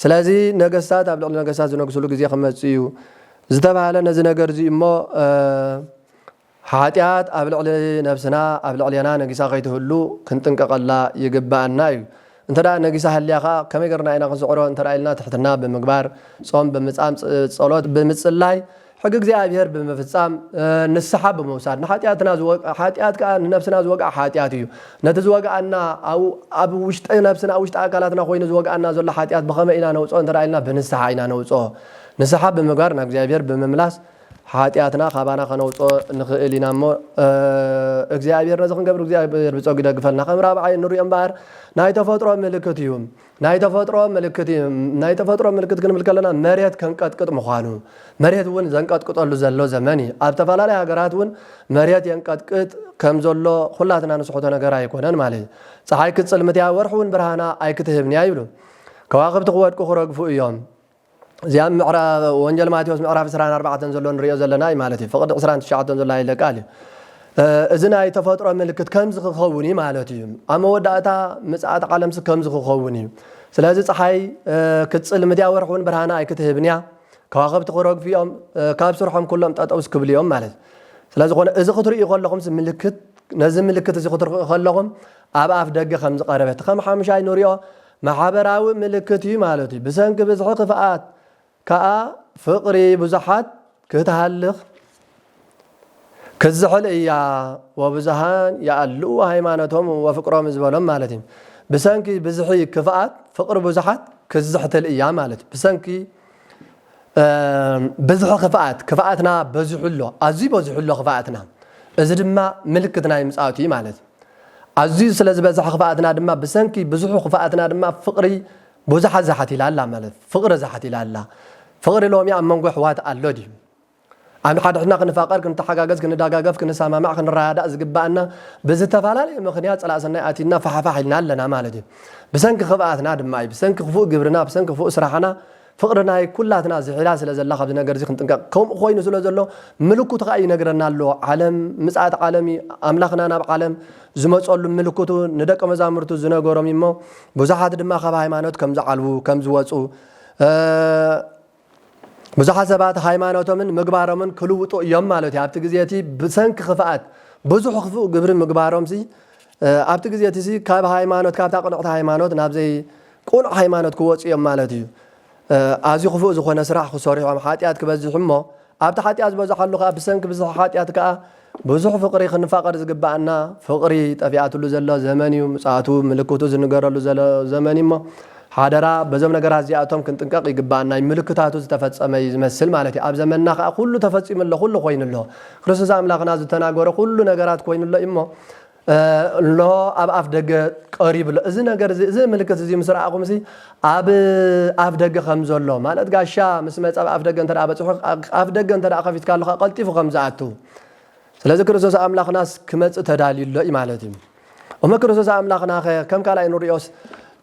ስለዚ ነገስታት ኣብ ልዕሊ ነገስታት ዝነግስሉ ግዜ ክመፅእ እዩ ዝተባህለ ነዚ ነገር እዚ እሞ ሓጢኣት ኣብ ልዕሊ ነብስና ኣብ ልዕሌና ነጊሳ ከይትህሉ ክንጥንቀቐላ ይግበኣና እዩ። እንተ ነጊሳ ሃልያ ከኣ ከመይ ገርና ኢና ክንስዕሮ እንተ ኢልና ትሕትና ብምግባር፣ ጾም ብምጻም፣ ጸሎት ብምጽላይ፣ ሕጊ እግዚኣብሔር ብምፍጻም፣ ንስሓ ብምውሳድ ንሓጢኣትና ዝወግኣ ሓጢኣት ከኣ ንነብስና ዝወግኣ ሓጢኣት እዩ። ነቲ ዝወግኣና ኣብ ኣብ ውሽጢ ነብስና ኣብ ውሽጢ ኣካላትና ኮይኑ ዝወግኣና ዘሎ ሓጢኣት ብኸመይ ኢና ነውጽኦ እንተ ኢልና ብንስሓ ኢና ነውጽኦ። ንስሓ ብምግባር ናብ እግዚኣብሔር ብምምላስ፣ ሓጢኣትና ካባና ከነውጽኦ ንኽእል ኢና እሞ እግዚኣብሔር ነዚ ክንገብር እግዚኣብሔር ብጸጉ ይደግፈልና ከም ራብዓይ እንሪኦ እምበኣር ናይ ተፈጥሮ ምልክት እዩ ናይ ተፈጥሮ ምልክት እዩ ናይ ተፈጥሮ ምልክት ክንብል ከለና መሬት ከንቀጥቅጥ ምዃኑ መሬት እውን ዘንቀጥቅጠሉ ዘሎ ዘመን እዩ ኣብ ተፈላለየ ሃገራት እውን መሬት የንቀጥቅጥ ከም ዘሎ ኩላትና ንስሕቶ ነገር ኣይኮነን ማለት እዩ ፀሓይ ክትጽልምት እያ ወርሒ እውን ብርሃና ኣይክትህብን እያ ይብሉ ከዋኽብቲ ክወድቁ ክረግፉ እዮም እዚ ኣብ ወንጀል ማቴዎስ ምዕራፍ ዕስራን ኣርባዕተን ዘሎ ንሪኦ ዘለና እዩ ማለት እዩ። ፍቕዲ ዕስራን ትሽዓተን ዘሎ ሃይለ ቃል እዩ። እዚ ናይ ተፈጥሮ ምልክት ከምዚ ክኸውን እዩ ማለት እዩ። ኣብ መወዳእታ ምጽኣት ዓለምሲ ከምዚ ክኸውን እዩ። ስለዚ ፀሓይ ክትጽልምት እያ፣ ወርሒ እውን ብርሃና ኣይክትህብን እያ፣ ከዋኽብቲ ክረግፉ እዮም፣ ካብ ስርሖም ኩሎም ጠጠውስ ክብሉ እዮም ማለት እዩ። ስለዝኾነ እዚ ክትርእዩ ከለኹምሲ ምልክት ነዚ ምልክት እዚ ክትርእዩ ከለኹም ኣብ ኣፍ ደገ ከም ዝቐረበት ከም ሓሙሻይ ንሪኦ ማሕበራዊ ምልክት እዩ ማለት እዩ። ብሰንኪ ብዝሒ ክፍኣት ከኣ ፍቕሪ ብዙሓት ክትሃልኽ ክትዝሕል እያ፣ ወብዙኃን የኣልኡ ሃይማኖቶሙ ወፍቅሮሙ ዝበሎም ማለት እዩ። ብሰንኪ ብዝሒ ክፍኣት ፍቕሪ ብዙሓት ክትዝሕትል እያ ማለት እዩ። ብሰንኪ ብዝሒ ክፍኣት፣ ክፍኣትና በዚሑ ኣሎ፣ ኣዝዩ በዚሑ ኣሎ ክፍኣትና፣ እዚ ድማ ምልክት ናይ ምጽኣቱ እዩ ማለት እዩ። ኣዝዩ ስለ ዝበዝሐ ክፍኣትና ድማ ብሰንኪ ብዝሑ ክፍኣትና ድማ ፍቅሪ ቡዙሓት ዛሓቲላ ኣላ ማለት ፍቅሪ ዛሓቲላ ኣላ ፍቅሪ ሎሚ ኣብ መንጎ ኣሕዋት ኣሎ ድዩ ኣንሓድሕድና ክንፋቀር ክንታሓጋገዝ ክንዳጋገፍ ክንሳማማዕ ክንራዳዳእ ዝግባኣና ብዝተፋላለየ ምክንያት ጸላእ ሰናይ ኣቲና ፋሕፋሕ ኢልና ኣለና ማለት እዩ ብሰንኪ ክፍኣትና ድማ እዩ ብሰንኪ ክፉእ ግብርና ብሰንኪ ክፉእ ስራሕና ፍቕሪ ናይ ኩላትና ስሒላ ስለ ዘላ ካብዚ ነገርዚ ክንጥንቀቕ ከምኡ ኮይኑ ስለ ዘሎ ምልኩት ከኣ ይነግረና ኣሎ ዓለም ምጽኣት ዓለም እዩ ኣምላኽና ናብ ዓለም ዝመጸሉ ምልኩቱ ንደቀ መዛሙርቱ ዝነገሮም እዩሞ ብዙሓት ድማ ካብ ሃይማኖት ከም ዝዓልቡ ከም ዝወጹ ብዙሓት ሰባት ሃይማኖቶምን ምግባሮምን ክልውጡ እዮም ማለት እዩ ኣብቲ ግዜ እቲ ብሰንኪ ክፍኣት ብዙሕ ክፉእ ግብሪ ምግባሮምሲ ኣብቲ ግዜ እቲ ካብ ሃይማኖት ካብታ ቅንዕቲ ሃይማኖት ናብ ዘይ ቅኑዕ ሃይማኖት ክወጹ እዮም ማለት እዩ። ኣዝዩ ክፉእ ዝኾነ ስራሕ ክሰርሑ እዮም፣ ሓጢኣት ክበዝሕ እሞ ኣብቲ ሓጢኣት ዝበዝሓሉ ከኣ ብሰንኪ ብዝሒ ሓጢኣት ከኣ ብዙሕ ፍቕሪ ክንፋቐር ዝግብኣና ፍቕሪ ጠፊኣትሉ ዘሎ ዘመን እዩ፣ ምጽኣቱ ምልክቱ ዝንገረሉ ዘሎ ዘመን እዩሞ ሓደራ በዞም ነገራት እዚኣቶም ክንጥንቀቕ ይግብኣና እዩ፣ ምልክታቱ ዝተፈጸመ እዩ ዝመስል ማለት እዩ፣ ኣብ ዘመንና ከኣ ኩሉ ተፈጺሙ ኣሎ ኩሉ ኮይኑ ኣሎ፣ ክርስቶስ ኣምላኽና ዝተናገሮ ኩሉ ነገራት ኮይኑ ኣሎ እዩሞ ኣሎ ኣብ ኣፍ ደገ ቀሪቡ ኣሎ እዚ ነገር እዚ እዚ ምልክት እዚ ምስ ረኣኹም ሲ ኣብ ኣፍ ደገ ከም ዘሎ ማለት ጋሻ ምስ መጻ ኣብ ኣፍ ደገ እንተ በጽሑ ኣፍ ደገ እንተ ከፊትካ ኣለኻ ቀልጢፉ ከም ዝኣቱ ስለዚ ክርስቶስ ኣምላኽናስ ክመጽእ ተዳልዩ ኣሎ እዩ ማለት እዩ እሞ ክርስቶስ ኣምላኽና ኸ ከም ካልኣይ ንሪኦስ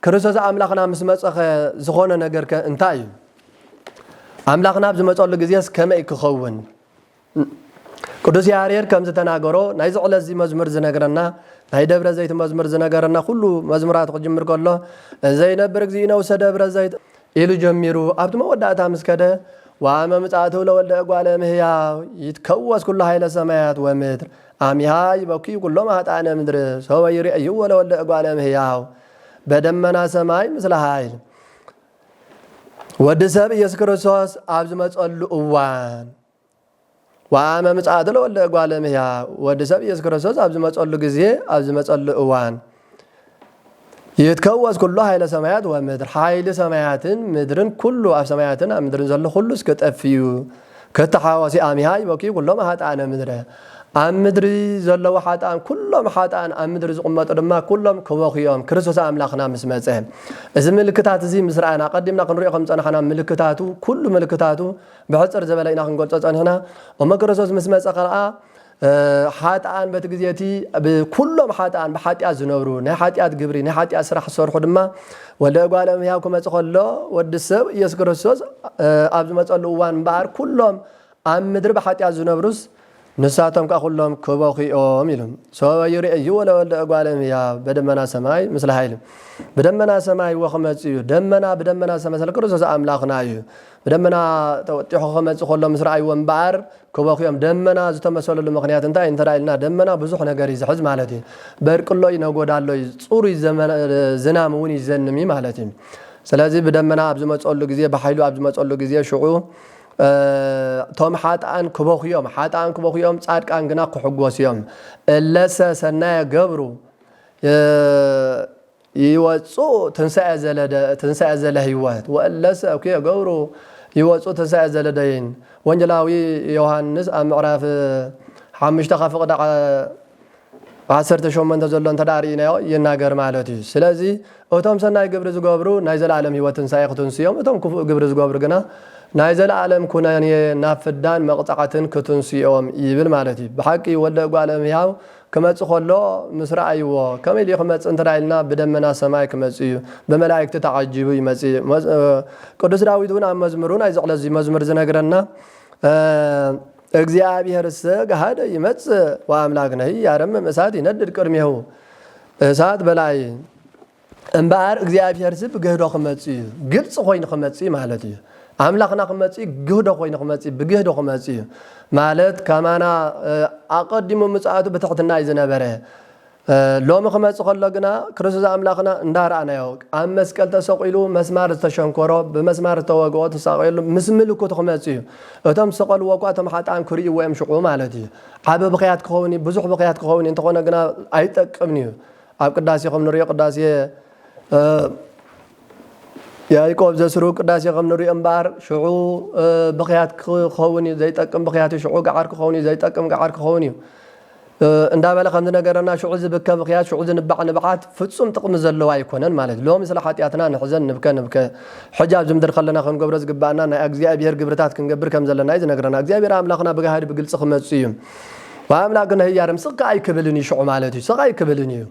ክርስቶስ ኣምላኽና ምስ መጸ ኸ ዝኾነ ነገር ከ እንታይ እዩ ኣምላኽና ኣብ ዝመጸሉ ግዜስ ከመይ ክኸውን ቅዱስ ያሬድ ከም ዝተናገሮ ናይዚ ዕለት እዚ መዝሙር ዝነግረና ናይ ደብረ ዘይት መዝሙር ዝነገረና ኩሉ መዝሙራቱ ክጅምር ከሎ ዘይነብር እግዚእነ ውስተ ደብረ ዘይት ኢሉ ጀሚሩ ኣብቲ መወዳእታ ምስ ከደ ዋመ ምጻእቱ ለወልደ እጓለ እምህያው ይትከወስ ኩሉ ኃይለ ሰማያት ወምድር አሚሃ ይበክዩ ኩሎም ኃጣነ ምድር ሰወ ይርእይዎ ለወልደ እጓለ እምህያው በደመና ሰማይ ምስለ ኃይል ወዲ ሰብ ኢየሱስ ክርስቶስ ኣብ ዝመጸሉ እዋን ዋመ ምጽኣቱ ለወልደ እጓለ እምህያው ወዲ ሰብ ኢየሱስ ክርስቶስ ኣብ ዝመጸሉ ግዜ ኣብ ዝመጸሉ እዋን ይትከወስ ኩሉ ኃይለ ሰማያት ወምድር ኃይሊ ሰማያትን ምድርን ኩሉ ኣብ ሰማያትን ኣብ ምድርን ዘሎ ኩሉ እስከ ጠፍዩ ክተሓወሲ ኣሚሃ ይበኪ ኩሎም ኃጥኣነ ምድረ ኣብ ምድሪ ዘለዉ ሓጥኣን ኩሎም ሓጥኣን ኣብ ምድሪ ዝቕመጡ ድማ ኩሎም ክበኽዮም ክርስቶስ ኣምላኽና ምስ መጸ እዚ ምልክታት እዚ ምስ ረኣና ቀዲምና ክንሪኦ ከም ዝጸናሕና ምልክታቱ ኩሉ ምልክታቱ ብሕጽር ዝበለ ኢና ክንገልጾ ጸኒሕና እሞ ክርስቶስ ምስ መጸ ከኣ ሓጥኣን በቲ ግዜ እቲ ብኩሎም ሓጥኣን ብሓጢኣት ዝነብሩ ናይ ሓጢኣት ግብሪ ናይ ሓጢኣት ስራሕ ዝሰርሑ ድማ ወልደ እጓለ እመሕያው ክመጽእ ከሎ ወዲ ሰብ ኢየሱስ ክርስቶስ ኣብ ዝመጸሉ እዋን እምበኣር ኩሎም ኣብ ምድሪ ብሓጢኣት ዝነብሩስ ንሳቶም ከኣ ኩሎም ክበኹ እዮም ኢሉ። ሶበዩ ርእይዎ ለወልደ እጓለ እምሕያው በደመና ሰማይ ምስለ ኃይል ብደመና ሰማይ ወክመጽእ እዩ ደመና ብደመና ሰማይ ስለ ክርስቶስ ኣምላኽና እዩ ብደመና ተወጢሑ ክመጽእ ከሎ ምስ ረኣይዎ እምበኣር ክበኹ እዮም ደመና ዝተመሰለሉ ምክንያት እንታይ እንተ ኢልና ደመና ብዙሕ ነገር እዩ ዝሕዝ ማለት እዩ በርቅሎ እዩ ነጎዳ ኣሎ እዩ ጽሩይ ዝናም እውን ይዘንም እዩ ማለት እዩ ስለዚ ብደመና ኣብ ዝመጸሉ ግዜ ብሓይሉ ኣብ ዝመጸሉ ግዜ ሽዑ እቶም ሓጥኣን ክበኹ እዮም፣ ሓጥኣን ክበኹ እዮም፣ ጻድቃን ግና ክሕጎሱ እዮም። እለሰ ሰናየ ገብሩ ይወጽኡ ትንሣኤ ዘለደ ትንሣኤ ዘለ ሕይወት ወእለሰ እኩየ ገብሩ ይወጽኡ ትንሣኤ ዘለደይን ወንጌላዊ ዮሐንስ ኣብ ምዕራፍ ሓምሽተ ካብ ፍቕዲ ዓሰርተ ሸሞንተ ዘሎ እንተደኣ ርኢናዮ ይናገር ማለት እዩ። ስለዚ እቶም ሰናይ ግብሪ ዝገብሩ ናይ ዘለኣለም ህይወት ትንሳኤ ክትንሱ እዮም፣ እቶም ክፉእ ግብሪ ዝገብሩ ግና ናይ ዘለኣለም ኩነኔ ናብ ፍዳን መቕጻዕትን ክትንሱ እዮም ይብል ማለት እዩ። ብሓቂ እዩ ወልደ እጓለ እምሕያው ክመጽእ ከሎ ምስ ረኣይዎ ከመይ ድዩ ክመጽእ እንተደኣ ኢልና ብደመና ሰማይ ክመጽእ እዩ ብመላእክቲ ተዓጂቡ ይመጽእ ቅዱስ ዳዊት እውን ኣብ መዝምሩ ናይዚ ዕለት እዚ መዝሙር ዝነግረና እግዚኣብሔርሰ ገሃደ ይመጽእ ወአምላክነሂ ያረምም እሳት ይነድድ ቅድሜሁ እሳት በላይ እምበኣር እግዚኣብሔርሲ ብግህዶ ክመጽእ እዩ ግልፂ ኮይኑ ክመጽእ ማለት እዩ ኣምላኽና ክመጽእ ግህዶ ኮይኑ ክመጽእ ብግህዶ ክመጽእ እዩ ማለት ከማና ኣቐዲሙ ምጽኣቱ ብትሕትና እዩ ዝነበረ ሎሚ ክመጽእ ከሎ ግና ክርስቶስ ኣምላኽና እንዳ ረኣናዮ ኣብ መስቀል ተሰቂሉ መስማር ዝተሸንኮሮ ብመስማር ዝተወግኦ ተሳቂሉ ምስ ምልክቱ ክመጽእ እዩ። እቶም ዝሰቀልዎ እኳ እቶም ሓጥኣን ክርእይዎ እዮም ሽቁ ማለት እዩ። ዓቢ ብኽያት ክኸውን እዩ ብዙሕ ብኽያት ክኸውን እዩ እንተኾነ ግና ኣይጠቅምን እዩ። ኣብ ቅዳሴ ከም ንርእዮ ቅዳሴ ያዕቆብ ዘስሩግ ቅዳሴ ከም ንርእዮ እምበኣር ሽዑ ብኽያት ክኸውን እዩ ዘይጠቅም ብኽያት እዩ ሽዑ ገዓር ክኸውን እዩ ዘይጠቅም ገዓር ክኸውን እዩ። እንዳበለ ከም ዝነገረና ሽዑ ዝብከ ብኽያት ሽዑ ዝንባዕ ንብዓት ፍጹም ጥቕሚ ዘለዎ ኣይኮነን ማለት ሎሚ ስለ ሓጢኣትና ንሕዘን ንብከ ንብከ ሕጂ ኣብዚ ምድሪ ከለና ክንገብሮ ዝግባኣና ናይ ኣግዚኣብሄር ግብርታት ክንገብር ከም ዘለና እዩ ዝነግረና እግዚኣብሄር ኣምላኽና ብጋህዲ ብግልጺ ክመጽእ እዩ ኣምላክ ንህያርም ስቅ ከኣ ኣይክብልን እዩ ሽዑ ማለት እዩ ስቅ ኣይክብልን እዩ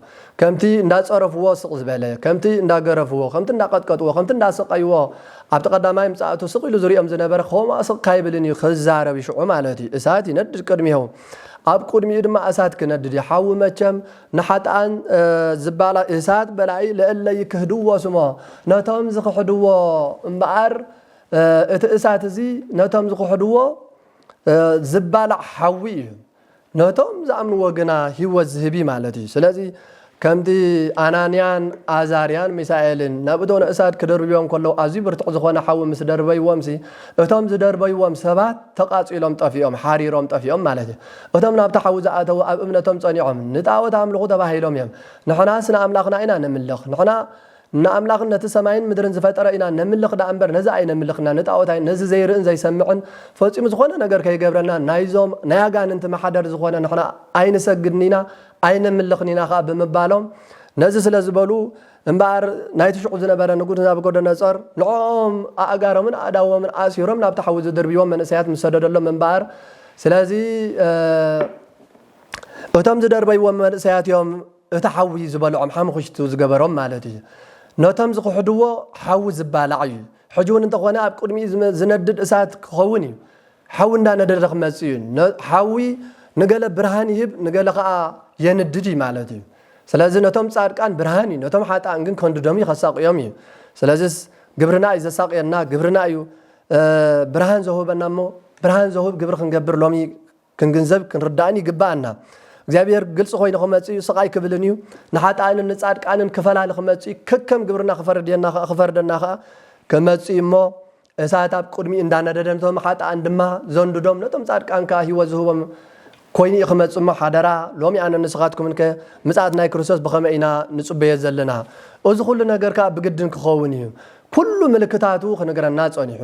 ከምቲ እንዳጸረፍዎ ስቅ ዝበለ ከምቲ እንዳገረፍዎ ከምቲ እንዳቀጥቀጥዎ ከምቲ እንዳሰቀይዎ ኣብቲ ቀዳማይ ምጻእቱ ስቅ ኢሉ ዝሪኦም ዝነበረ ከምኡ ስቅ ካይብልን እዩ ክዛረብ ሽዑ ማለት እዩ እሳት ይነድድ ቅድሚሆ ኣብ ቁድሚኡ ድማ እሳት ክነድድ እዩ ሓዊ መቸም ንሓጥኣን ዝባላ እሳት በላኢ ለእለ ይክህድዎ ስሞ ነቶም ዝክሕድዎ እምበኣር እቲ እሳት እዚ ነቶም ዝክሕድዎ ዝባላዕ ሓዊ እዩ ነቶም ዝኣምንዎ ግና ህይወት ዝህብ እዩ ማለት እዩ ስለዚ ከምቲ ኣናንያን ኣዛርያን ሚሳኤልን ናብ እቶን እሳት ክድርብዮም ከለዉ ኣዝዩ ብርቱዕ ዝዀነ ሓዊ ምስ ደርበይዎምሲ፣ እቶም ዝደርበይዎም ሰባት ተቓጺሎም ጠፊኦም፣ ሓሪሮም ጠፊኦም ማለት ኢዩ። እቶም ናብቲ ሓዊ ዝኣተዉ ኣብ እምነቶም ጸኒዖም፣ ንጣኦት ኣምልኹ ተባሂሎም ኢዮም። ንሕናስ ንኣምላኽና ኢና ነምልኽ። ንሕና ንኣምላኽን ነቲ ሰማይን ምድርን ዝፈጠረ ኢና ነምልኽ ደኣ እምበር ነዚ ኣይነምልኽና፣ ንጣኦት ኣይ፣ ነዚ ዘይርእን ዘይሰምዕን ፈጺሙ ዝዀነ ነገር ከይገብረና ናይዞም ናይ ኣጋንንቲ ማሕደር ዝዀነ ንሕና ኣይንሰግድን ኢና፣ ኣይነምልኽን ኢና ኸኣ ብምባሎም ነዚ ስለ ዝበሉ እምበኣር ናይቲ ሽዑ ዝነበረ ንጉስ ናቡኮዶኖጾር ንዕኦም ኣእጋሮምን ኣእዳዎምን ኣሲሮም ናብቲ ሓዊ ዝድርብይዎም መንእሰያት ምስ ሰደደሎም እምበኣር ስለዚ እቶም ዝደርበይዎም መንእሰያት እዮም እቲ ሓዊ ዝበልዖም ሓሙኽሽቲ ዝገበሮም ማለት እዩ ነቶም ዝኽሕድዎ ሓዊ ዝባላዕ እዩ ሕጂ እውን እንተኾነ ኣብ ቅድሚኡ ዝነድድ እሳት ክኸውን እዩ ሓዊ እንዳነደደ ክመጽእ እዩ። ሓዊ ንገለ ብርሃን ይህብ ንገለ ከኣ የንድድ እዩ ማለት እዩ። ስለዚ ነቶም ጻድቃን ብርሃን እዩ ነቶም ሓጥኣን ግን ከንድዶም እዩ ከሳቕዮም እዩ። ስለዚስ ግብርና እዩ ዘሳቕየና ግብርና እዩ ብርሃን ዘውህበና እሞ ብርሃን ዘውህብ ግብሪ ክንገብር ሎሚ ክንግንዘብ ክንርዳእን ይግብኣና። እግዚኣብሔር ግልጺ ኮይኑ ክመጽእ እዩ ስቓይ ክብልን እዩ ንሓጥኣንን ንጻድቃንን ክፈላሊ ክመጽእ እዩ ከከም ግብርና ክፈርድየና ከኣ ክፈርደና ከኣ ክመጽእ እዩ እሞ እሳት ኣብ ቅድሚኡ እንዳነደደ ነቶም ሓጥኣን ድማ ዘንድዶም ነቶም ጻድቃን ከኣ ህይወት ዝህቦም ኮይኑ እዩ ክመጽእ እሞ ሓደራ ሎሚ ኣነን ንስኻትኩምን ከ ምጽኣት ናይ ክርስቶስ ብኸመይ ኢና ንጽበዮ ዘለና እዚ ኩሉ ነገር ከኣ ብግድን ክኸውን እዩ ኩሉ ምልክታቱ ክንግረና ጸኒሑ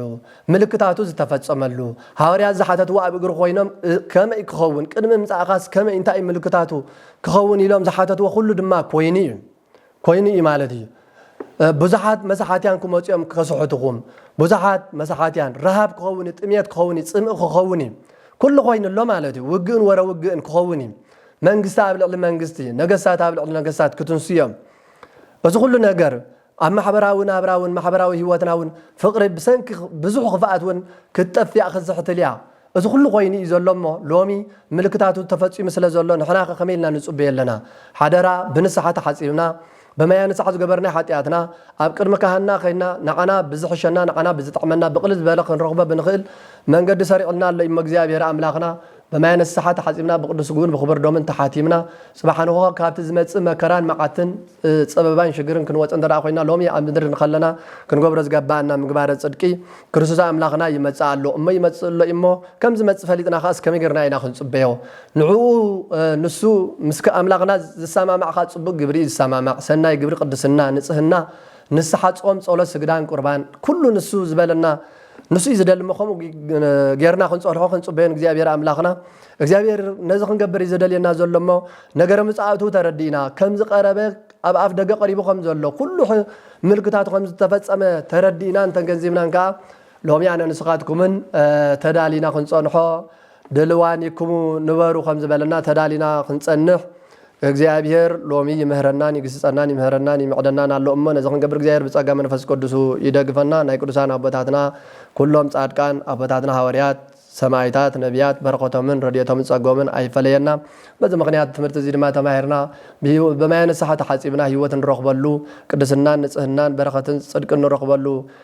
ምልክታቱ ዝተፈጸመሉ ሃዋርያት ዝሓተትዎ ኣብ እግሪ ኮይኖም ከመይ ክኸውን ቅድሚ ምጻእኻስ ከመይ እንታይ ምልክታቱ ክኸውን ኢሎም ዝሓተትዎ ኩሉ ድማ ኮይኑ እዩ ኮይኑ እዩ ማለት እዩ ብዙሓት መሳሓትያን ክመፁ እዮም ከስሕትኹም ብዙሓት መሳሓትያን ረሃብ ክኸውን እዩ ጥምየት ክኸውን እዩ ፅምኢ ክኸውን እዩ ኩሉ ኮይኑ ኣሎ ማለት እዩ ውግእን ወረ ውግእን ክኸውን እዩ መንግስቲ ኣብ ልዕሊ መንግስቲ ነገስታት ኣብ ልዕሊ ነገስታት ክትንሱ እዮም እዚ ኩሉ ነገር ኣብ ማሕበራዊ ናብራ እውን ማሕበራዊ ህይወትና እውን ፍቕሪ ብሰንኪ ብዙሕ ክፍኣት እውን ክትጠፍእ ክትዝሕትል እያ እዚ ኩሉ ኮይኑ እዩ ዘሎ እሞ ሎሚ ምልክታቱ ተፈጺሙ ስለ ዘሎ ንሕናኸ ከመይ ኢልና ንጽበዮ ኣለና ሓደራ ብንስሓ ተሓጺብና በመያ ንስሓ ዝገበርናዮ ሓጥያትና ኣብ ቅድሚ ካህንና ከይንና ንዓና ብዝሕሸና ንዓና ብዝጥዕመና ብቅልል ዝበለ ክንረኽቦ ብንኽእል መንገዲ ሰሪዕልና ኣሎ እዩሞ እግዚኣብሔር ኣምላኽና በመያ ንስሓ ተሓጺብና ብቅዱስ ስግኡን ብኽቡር ደሙን ተሓቲምና ጽባሕ ንግሆ ካብቲ ዝመጽእ መከራን መዓትን ጸበባን ሽግርን ክንወጽእ እንተ ኾይና ሎሚ ኣብ ምድሪ እንከለና ክንገብሮ ዝገባኣና ምግባረ ጽድቂ ክርስቶስ ኣምላኽና ይመጽእ ኣሎ እሞ ይመጽእ ኣሎ እዩሞ ከም ዝመጽእ ፈሊጥና ከኣስ ከመይ ጌርና ኢና ክንጽበዮ ንዕኡ ንሱ ምስ ኣምላኽና ዝሰማማዕ ከኣ ጽቡቅ ግብሪ እዩ ዝሰማማዕ ሰናይ ግብሪ ቅድስና ንጽህና ንስሓ ጾም ጸሎት ስግዳን ቁርባን ኩሉ ንሱ ዝበለና ንሱ እዩ ዝደሊ እሞ ከምኡ ጌርና ክንጸንሖ ክንጽበዮ ንእግዚኣብሔር ኣምላኽና እግዚኣብሔር ነዚ ክንገብር እዩ ዘደልየና ዘሎ እሞ ነገረ ምጽኣቱ ተረዲእና ከም ዝቐረበ ኣብ ኣፍ ደገ ቀሪቡ ከም ዘሎ ኩሉ ምልክታቱ ከም ዝተፈጸመ ተረዲእናን ተገንዚብናን ከኣ ሎሚ ኣነ ንስኻትኩምን ተዳሊና ክንጸንሖ ድልዋን ይኩሙ ንበሩ ከም ዝበለና ተዳሊና ክንጸንሕ እግዚኣብሔር ሎሚ ይምህረናን ይግስጸናን ይምህረናን ይምዕደናን ኣሎ እሞ ነዚ ክንገብር እግዚኣብሔር ብጸጋ መንፈስ ቅዱሱ ይደግፈና ናይ ቅዱሳን ኣቦታትና ኩሎም ጻድቃን ኣቦታትና ሃወርያት ሰማይታት ነቢያት በረከቶምን ረድኤቶምን ጸጎምን ኣይፈለየና በዚ ምክንያት ትምህርቲ እዚ ድማ ተማሂርና ብማየ ንስሓ ተሓጺብና ህይወት ንረክበሉ ቅድስናን ንጽህናን በረከትን ጽድቅን ንረክበሉ